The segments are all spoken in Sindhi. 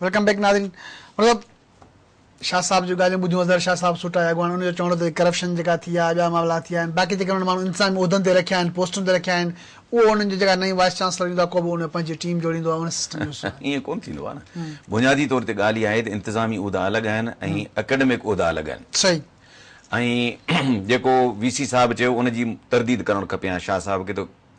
ويلڪم بيڪ ناظرين مطلب شاھ صاحب جون ڳالهيون ٻڌيون اظهر شاھ صاحب سوٽا جا اڳواڻ ان جو چوڻ هو ته ڪرپشن جيڪا ٿي آهي ٻيا معاملا ٿي آهن باقي جيڪي انهن ماڻهن انتظامي عهدن تي رکيا آهن پوسٽن تي رکيا آهن اهو انهن جو جيڪا نئين وائيس چانسلر ايندو آهي ڪو به ان پنهنجي ٽيم جوڙيندو آهي ان سسٽم جو حصو آهن ائين ڪونه ٿيندو آهي نه بنيادي طور تي ڳالهه اها آهي ته انتظامي عهدا الڳ آهن ۽ اڪيڊمڪ عهدا الڳ آهن صحيح ۽ جيڪو وي سي صاحب چيو ان جي ترديد ڪرڻ کپي هان شاھ صاحب کي ته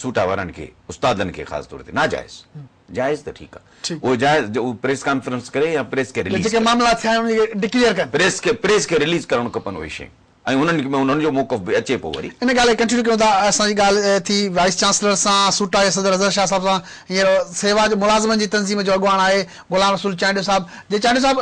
سوٽا وارن کي استادن کي خاص طور تي ناجائز جائز ته ٺيڪ آ اهو جائز جو اهو پريس ڪانفرنس ڪري يا پريس کي رليز جيڪي معاملا ٿيا آهن اهي ڊڪليئر ڪن پريس کي پريس کي رليز ڪرڻ کپن اهي شيون ۽ انهن کي انهن جو موقف به اچي پو وري. ان ڳالهه کي ڪنٽينيو ڪيون ٿا اسان جي ڳالهه ٿي وائيس چانسلر سان سوٽا جي صدر اظهر شاهه صاحب سان هينئر سيوا جو ملازمن جي تنظيم جو اڳواڻ آهي غلام رسول چانڊيو صاحب جي چانڊيو صاحب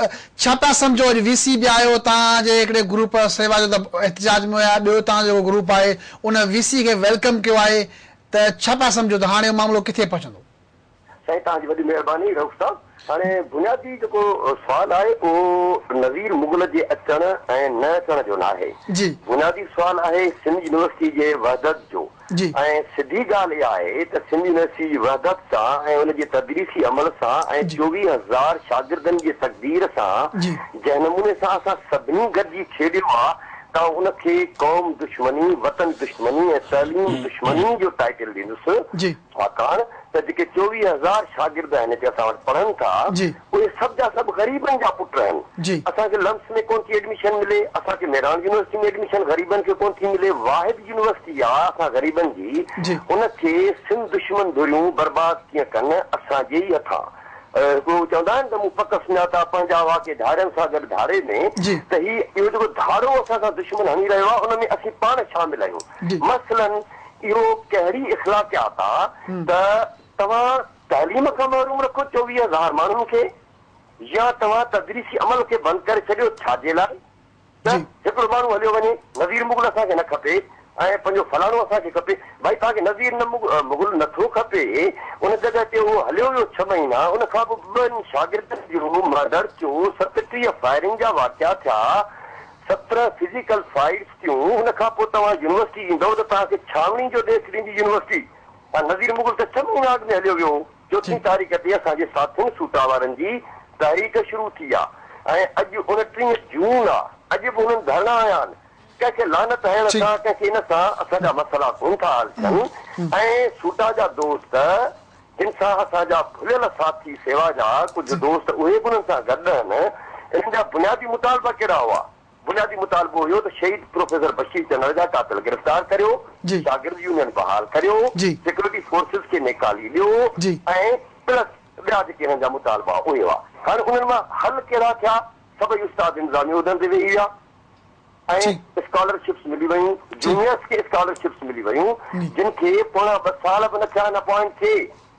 ڇا پيا سمجهو اڄ وي سي به آيو تان جي هڪڙي گروپ سيوا جو ته احتجاج ۾ هيا ٻيو تان جو جيڪو گروپ آهي ان وي سي کي ويلڪم ڪيو آهي ته ڇا پيا سمجهو ته هاڻي اهو معاملو ڪٿي پهچندو؟ سائين توهان جي وڏي مهرباني رئوف صاحب هاڻي بنيادي جيڪو سوال آهي اهو نظير مغل جي اچڻ ۽ نه اچڻ جو ناهي جي. بنيادي سوال آهي سنڌ يونيورسٽي جي وحدت جو جي. ۽ سڌي ڳالهه اها آهي ته سنڌ يونيورسٽي جي وحدت سان ۽ ان جي تدريسي عمل سان ۽ جي. چوويهه هزار شاگردن جي تقدير سان جي. جنهن نموني سان اسان سڀني گڏجي کيڏيو آهي ته آئون ان کي قوم دشمني، وطن دشمني ۽ تعليم دشمني جو ٽائيٽل ڏيندس، ڇاڪاڻ ته جيڪي چوويهه هزار شاگرد آهن هتي اسان وٽ پڙهن ٿا، اهي سڀ جا سڀ غريبن جا پٽ آهن. اسان کي لمس ۾ ڪونه ٿي ايڊميشن ملي، اسان کي مهراڻ يونيورسٽي ۾ ايڊميشن غريبن کي ڪونه ٿي ملي، واحد يونيورسٽي آ اسان غريبن جي، ان کي سنڌ دشمن ڌريون برباد ڪيئن ڪن، اسان جي ئي هٿان. هو چوندا آهن ته مون پڪ سڃاتا پنهنجا هئا ڪي ڌاڙين سان گڏ ڌاڙي ۾، ته هي اهو جيڪو ڌاڙو اسان سان دشمن هڻي رهيو آهي ان ۾ اسين پاڻ شامل آهيون. مثلاً اهو ڪهڙي اخلاقيات آ ته توهان تعليم کان محروم رکو چوويهه هزار ماڻهن کي يا توهان تدريسي عمل کي بند ڪري ڇڏيو ڇا جي لاء؟ ته هڪڙو ماڻهو هليو وڃي، نذير مغل اسان کي نه کپي ۽ پنهنجو فلاڻو اسان کي کپي. ڀائي توهان کي نذير نه مغل نه ٿو کپي، ان جڳهه تي اهو هليو ويو ڇهه مهينا، ان کان پوء ٻن شاگردن جو مارڊر ٿيو، ستٽيهه فائرنگ جا واقعا ٿيا، سترهن فزيڪل فائيٽس ٿيون، ان کان پوء توهان يونيورسٽي ايندؤ ته توهان کي ڇانوڻي جو ڏيک ڏيندي يونيورسٽي، ۽ نذير مغل ته ڇهه مهينا اڳ ۾ هليو ويو هو. چوٿين تاريخ تي اسان جي ساٿين سوٽا وارن جي تحريڪ شروع ٿي آ ۽ اڄ اڻٽيهه جون آ اڄ به هنن ڌرڻا هنيا آهن ڪنهن کي لعنت هڻڻ سان ڪنهن کي ان سان اسان جا مسئلا ڪون ٿا حل ٿين ۽ سوٽا جا دوست جن سان اسان جا ڀليل ساٿي سيوا جا ڪجهه دوست اهي به انهن سان گڏ آهن انهن جا بنيادي مطالبا ڪهڙا هئا؟ بنيادي مطالبو هيو ته شهيد پروفيسر بشير چنڙ جا قاتل گرفتار ڪريو، شاگرد يونين بحال ڪريو، سيڪيورٽي فورسز کي نيڪالي ڏيو ۽ پلس ٻيا جيڪي هنن جا مطالبا اهي هئا. هاڻي انهن مان حل ڪهڙا ٿيا؟ سڀئي استاد انتظامي عهدن تي ويهي ويا ۽ اسڪالرشپس ملي ويون، جونيئرس کي اسڪالرشپس ملي ويون جن کي پوڻا ٻه سال به نه ٿيا ان اپوائنٽ ٿئي.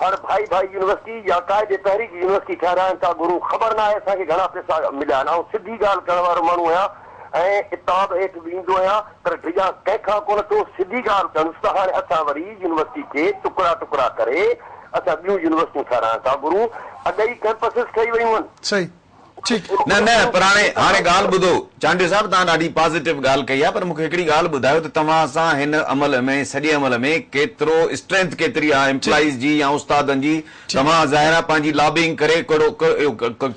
هر ڀائي ڀائي يونيورسٽي يا قائد تحريڪ جي يونيورسٽي ٺهرائڻ ڪا گهرون خبر ناهي اسان کي گهڻا پيسا مليا آهن آئون سڌي ڳالهه ڪرڻ وارو ماڻهو هيان ۽ عتاب هيٺ به ايندو هيان پر ڊڄان ڪنهن کان ڪونه ٿو سڌي ڳالهه ڪندس ته هاڻي اسان وري يونيورسٽي کي ٽڪرا ٽڪرا ڪري اسان ٻيون يونيورسٽيون ٺهرائڻ ڪا گهرون اڳ ئي ڪئمپسز ٺهي ويون آهن. سائين ٺيڪ نه نه پر هاڻي هاڻي ڳالهه ٻڌو چانڊيو صاحب توهان ڏاڍي پازيٽو ڳالهه ڪئي آهي پر مونکي هڪڙي ڳالهه ٻڌايو ته توهان سان هن عمل ۾ سڄي عمل ۾ ڪيترو اسٽرينٿ ڪيتري آهي امپلائيز جي يا استادن جي توهان ظاهر آهي پنهنجي لابينگ ڪري ڪهڙو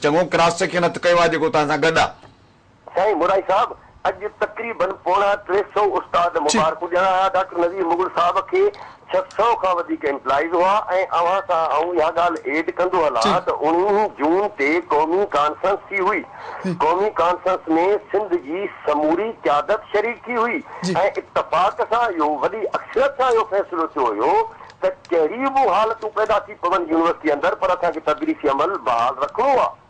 چڱو ڪراس سيڪشن هٿ ڪيو آهي جيڪو توهان سان گڏ آهي. سائين مورائي صاحب اڄ تقريباً پوڻا ٽي سئو استاد مبارڪون ڏيڻا ھئا ڊاڪٽر نذير مغل صاحب کي ڇهه سئو کان وڌيڪ امپلائيز ھئا ۽ اوھان سان آئون اھا ڳالھ ايڊ ڪندو ھلان ته اڻويھين جون تي قومي ڪانفرنس ٿي ھئي قومي ڪانفرنس ۾ سنڌ جي سموري قيادت شريڪ ٿي ھئي ۽ اتفاق سان اھو وڏي اڪثريت سان اھو فيصلو ٿيو ھيو ته ڪهڙي به حالتون پيدا ٿي پون يونيورسٽي اندر پر اسان کي تدريسي عمل بحال رکڻو آ.